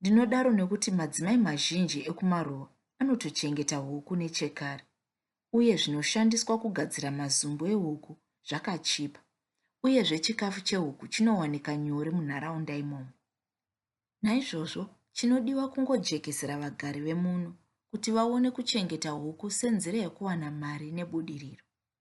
Ndinodaro nekuti madzimai mazhinji ekumaruwa anotochengeta huku nechekare uye zvinoshandiswa kugadzira mazumbu ehuku zvakachipa uyezve chikafu chehuku chinowanika nyore munharaunda imomo. Naizvozvo chinodiwa kungojekesera vagari vemuno kuti vaone kuchengeta huku senzira yekuwana mari nebudiriro.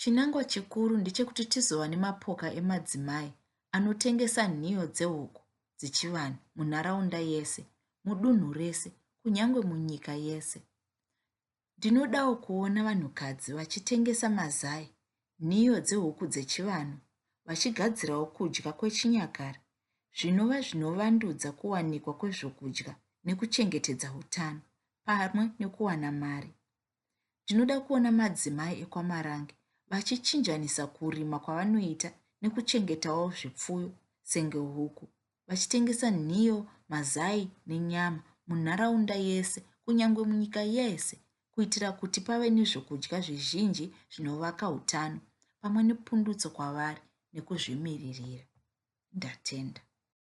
Chinangwa chikuru ndechekuti tizova nemapoka emadzimai anotengesa nhiyo dzehuku dzechivanhu munharaunda yese, mudunhu rese, kunyange munyika yese. Ndinodawo kuona vanhukadzi vachitengesa mazai, nhiyo dzehuku dzechivanhu, vachigadzirawo kudya kwechinyakare zvinova zvinovandudza kuwanikwa kwezvokudya nekuchengetedza utano pamwe nekuwana mari. Ndinoda kuona madzimai ekwaMarange vachichinjanisa kurima kwavanoita nekuchengetawo zvipfuyo senge huku vachitengesa nhiyo, mazai nenyama munharaunda yese kunyange munyika yese kuitira kuti pave nezvokudya zvizhinji zvinovaka utano pamwe nepundutso kwavari nekuzvimiririra. Ndatenda.